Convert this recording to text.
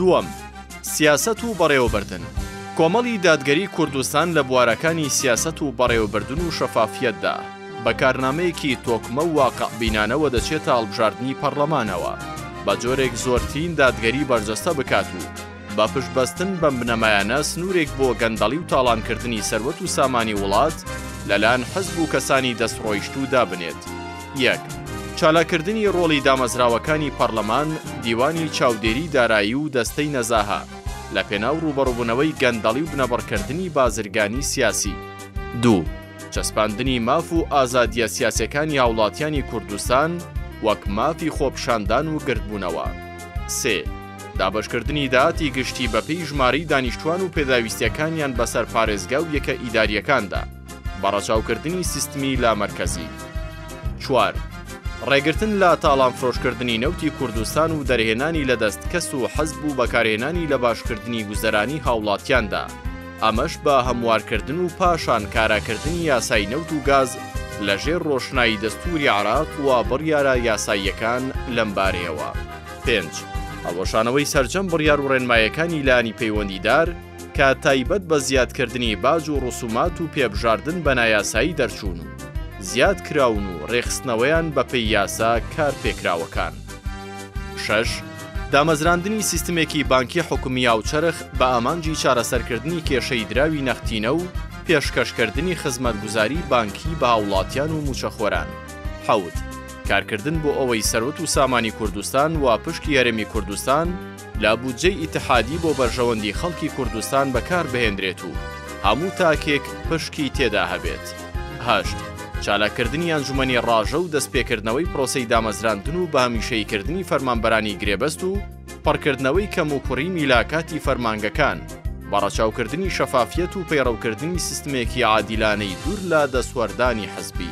دووەم، سیاسەت و بەڕێوەبردن، کۆمەڵی دادگەری کوردستان لە بوارەکانی سیاسەت و بەڕێوەبردن و شەفافیەتدا، بە کارنامەیەکی تۆکمە و واقعبینانەوە دەچێتە هەڵبژاردنی پەڕڵەمانەوە، بە جۆرێک زۆرترین دادگەری بەرجەستە بکات و، بە پشتبەستن بەم بنەمایانە سنوورێک بۆ گەندەڵی و تاڵانکردنی سەروەت و سامانی وڵات لەلایەن حزب و کەسانی دەستڕۆیشتوو دابنێت. یەک. چالاککردنی ڕۆڵی دامەزراوەکانی پەڕلەمان، دیوانی چاودێری دارایی و دەستەی نەزاهە لە پێناو ڕووبەڕووبوونەوەی گەندەڵی و بنەبڕکردنی بازرگانی سیاسی. دوو. چەسپاندنی ماف و ئازادییە سیاسیەکانی هاوڵاتیانی کوردستان وەک مافی خۆپیشاندان و گردبوونەوە. سێ. دابەشکردنی داهاتی گشتی بەپێی ژمارەی دانیشتوان و پێداویستیەکانیان بەسەر پارێزگا و یەکە ئیداریەکاندا، بە ڕەچاوکردنی سیستمی لامەرکەزی. چوار. ڕێگرتن لە تاڵانفرۆشکردنی نەوتی کوردستان و دەرهێنانی لە دەست کەس و حزب و بەکارهێنانی لە باشکردنی گوزەرانی هاوڵاتیاندا، ئەمەش بە هەموارکردن و پاشان کاراکردنی یاسای نەوت و گاز لەژێر ڕۆشنایی دەستوری عێراق و بڕیارە یاساییەکان لەمبارەیەوە. پێنج. هەڵوەشانەوەی سەرجەم بڕیار و ڕێنمایەکانی لانی پەیوەندیدار کە تایبەت بە زیادکردنی باج و ڕسومات و پێبژاردن بە نایاسایی دەرچوون و زیاد کراون و ڕێکخستنەوەیان بەپێی یاسا کارپێکراوەکان. شەش. دامەزراندنی سیستمێکی بانکی حکومی هاوچەرخ بە ئامانجی چارەسەرکردنی کێشەی دراوی نەختینە و پێشکەشکردنی خزمەتگوزاری بانکی بە هاوڵاتیان و مووچەخۆران. حەوت. کارکردن بۆ ئەوەی سەروەت و سامانی کوردستان و پشکی هەرێمی کوردستان لە بودجەی ئیتحادی بۆ بەرژەوەندی خەڵکی کوردستان بەکار بهێنرێت و هەموو تاکێک پشکی تێدا هەبێت هەشت چالاککردنی ئەنجومەنی ڕاژە و دەستپێکردنەوەی پرۆسی دامەزراندن و بەهمیشەیکردنی فەرمانبەرانی گرێبەست و پڕکردنەوەی کەم و کوڕی میلاکاتی فەرمانگەکان بەڕەچاوکردنی شەفافیەت و پەیڕەوکردنی سیستمێکی عادیلانەی دوور لە دەستوەردانی حزبی.